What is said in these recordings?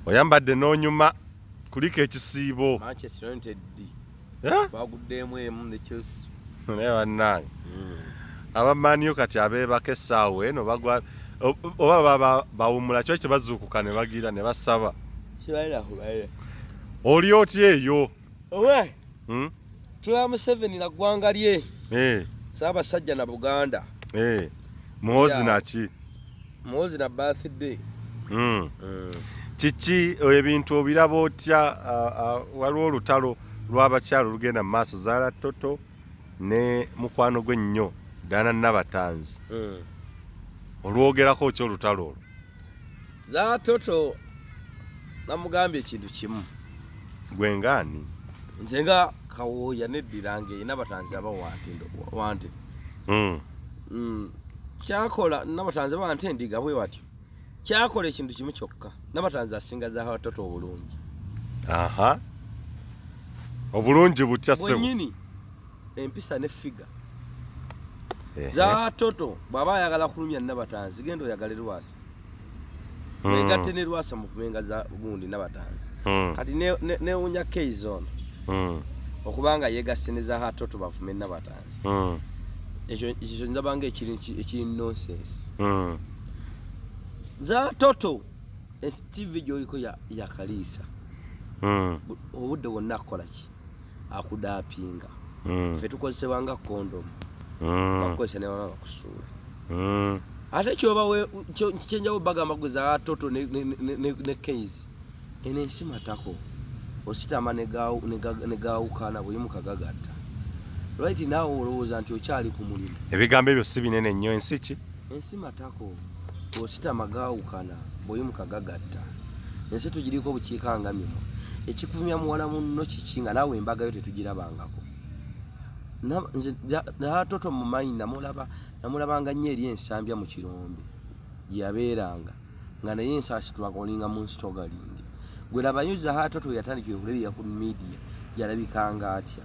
Oyambadde n'onyuma kulika ekisiibo. Manchester United eh? baguddeemu emu ne Chelsea. Naye bannange hmm. abamanio kati abeebaka essaawa eno bagwa oba bawumula kyo kye bazuukuka ne bagira ne basaba. Oli otya eyo? owe hmm? tula museveni na ggwanga lye eh. saabasajja na buganda eh. muhozi naki muhozi na birthday hmm. hmm. kiki eh, ebintu obiraba otya waliwo olutalo lw'abakyalo olugenda mu maaso zaala toto ne mukwano gwe nnyo dana nabatanzi olwogerako ki olutalo olwo zatoto namugambye ekintu kimu gwe ngaani nze nga kawooya neddira ngaerina batanzi aba wante hmm. hmm. kyakola nabatanzi aba wante ndiga bwe batyo kyakola ekintu kimu kyokka nabatanzi asinga zatoto obulungi obulungi butya senyini empisa ne figa zatoto bwaba ayagala kulumya nabatanzi genda oyagale lwasa hmm. mwegatte ne lwasa mufumenga za gundi nabatanzi hmm. kati newunya ne keizi ono hmm. okubanga yegasse ne za hatoto bafume nabatanzi ekyo ndabanga ekiri nonsense za toto esitivi gyoliko yakaliisa obudde bwonna kukolaki akudapinga mm. fe tukozesebwa nga kondomu mm. bakukozesa ne baba bakusuula mm. ate kyoba kyenjawo bagamba kuza atoto ne, ne, ne, ne, ne case eno ensi matako ositama negawukana buli mukagagatta right nawe olowooza nti okyali ku mulimu ebigambo ebyo si binene nnyo ensi ki ensi matako ositama gawukana bweyimuka gagatta ensi tugiriko obukiika nga mino ekikuvumya muwala munno kiki nga naawe embagayo tetugirabangako natoto mumayi namulaba namulabanga nnyo eri ensambya mu kirombe gyeyabeeranga nga naye ensaasi twakolinga mu nsitogalingi gwe labayo zahatoto yatandikira okulebera ku midiya yalabikanga atya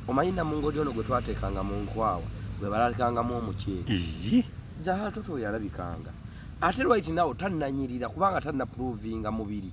omanyi namungodi ono gwe twateekanga mu nkwawa gwe balalikangamu omuceeri zahatoto yalabikanga ate right now tannanyirira kubanga tannapuruvinga mubiri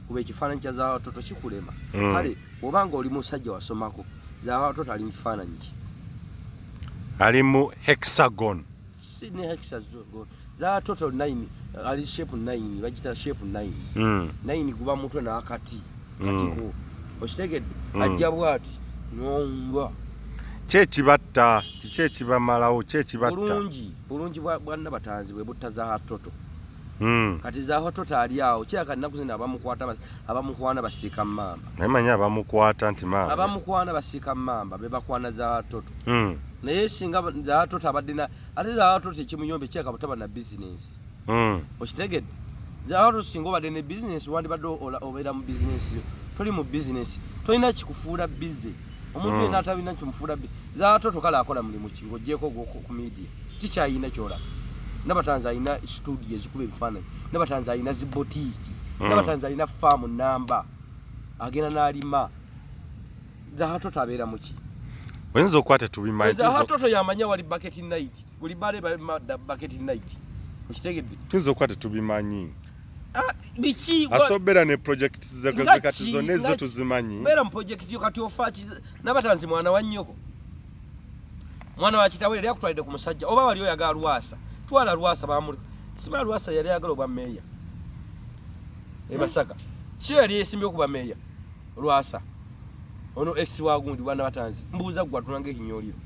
kuba ekifaananyi kya zawatoto kikulema mm. kale oba nga oli musajja wasomako zawatoto ali mukifaananyi ki ali mu hexagon si ne hexagon zawatoto 9 ali shape 9 bagita shape 9 mm. 9 guba mutwe nakati mm. katiko okitegedde mm. ajja bwati nomba kyekibatta kiki ekibamalawo kyekibatta bulungi bulungi bwanna batanzi bwe butta zawatoto Hmm. kati zaho totali awo kyaka naku zina abamukwata abamukwana basika mamba naye manya abamukwata nti mamba abamukwana basika mamba be bakwana za toto mm. naye singa za toto abadina ate za toto ekimuyombe kyaka butaba na business mm. okitegede za toto singa obadde ne business wandi badde obera mu business toli mu business tolina kikufuula busy omuntu yena atabina kimufula bi zatoto kala akola mulimu ki ngojeko gwoko ku media ticha yina kyola nabatanza yina studio ezikuba ebifaananyi nabatanza yina zibotiki mm. nabatanza yina faamu namba agenda n'alima zahatoto abeera muki oyinza okukwata tubimanyi zahatoto yamanya wali baketi nayiti buli bale baketi night okitegedde tuzo okuba tetubimanyi ah, biki asobera ne project zekati zonna ezo tuzimanyi beera mu project yo kati ofa nabatanzi mwana wa nnyoko mwana wa kitawe yali akutwalidde ku musajja oba wali oyagala lwasa twala lwasa bamuli sima lwasa yali ayagala obwa meeya e masaka kyo yali esimbye okuba meeya lwasa ono ex wagundi bwana batanzi mbuuza gwe atulanga ekinyoliro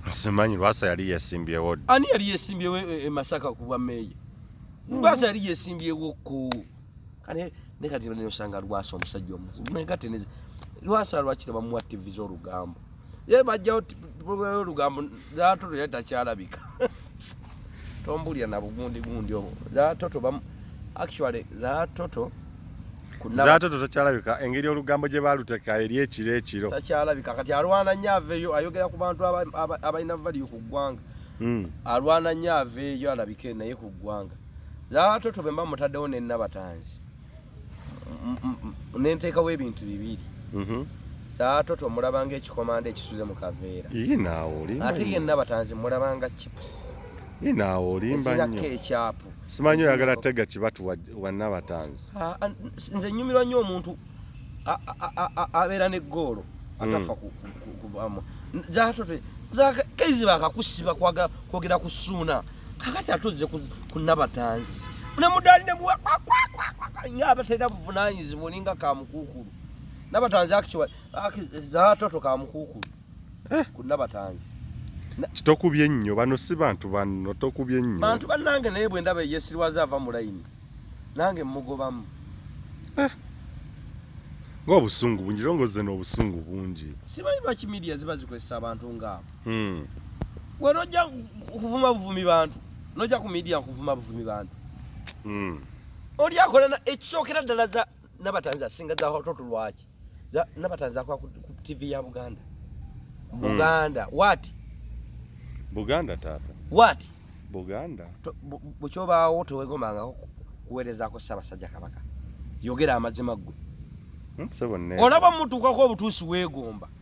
simanyi lwasa yali yesimbyewo ani yali yesimbyewo e, e, e masaka ku bwa meeya hmm. lwasa yali yesimbyewo ku kale ne kati ne osanga lwasa omusajja omukulu naye kati ne lwasa lwakira bamuwa tv z'olugambo ye bajjawo pulogulamu y'olugambo zaatoto yali takyalabika tombulira na bugundigundi obwo zaatoto actually zaatoto zaatoto takyalabika engeri olugambo gye baaluteka eri ekiro ekiro takyalabika kati alwana nnyo aveeyo ayogera ku bantu abalina valiyo ku ggwanga hmm. alwana nnyo aveeyo alabike naye ku ggwanga zaatoto be mba mutaddewo ne nabatanzi nenteekawo ebintu bibiri mhm. saatoto mulabanga ekikomanda ekisuze mu kaveera ate yenna batanzi mulabanga chips inaawo olimba nnyo ekyapu simanyi oyagala tega kibatu wanna batanzi ah, ah, nze nyumirwa nnyo omuntu abeera ne goolo hmm. atafa kubamu zatote kezi bakakusiba kwogera kusuuna kakati atuzze ku nabatanzi nemudaali nemuwa nga abatera buvunanyizibwa olinga kamukuukulu nabatanzi zatoto kamukuukulu eh. ku nabatanzi kitokubye nnyo bano si bantu banno tokubye nnyo bantu bannange naye bwe ndaba eyesirwaza ava mu layini nange mmugobamu eh. ngaobusungu bungi longoze n'obusungu bungi simanyi lwaki midiya ziba zikozesa abantu ngaabo Hmm. Gwe nojja kuvuma buvumi bantu, nojja ku media kuvuma buvumi bantu. Hmm. Oli akola na ekisookera ddala za nabatanzi asinga za hototo lwaki? Za nabatanzi akwa ku TV ya Buganda. Hmm. Buganda, hmm. what? Buganda tata. What? Buganda. Buchoba wote wegomanga kuwereza ko Sabasajja Kabaka. Yogera amazima gwe. Hmm, olaba mutuukako obutuusi weegomba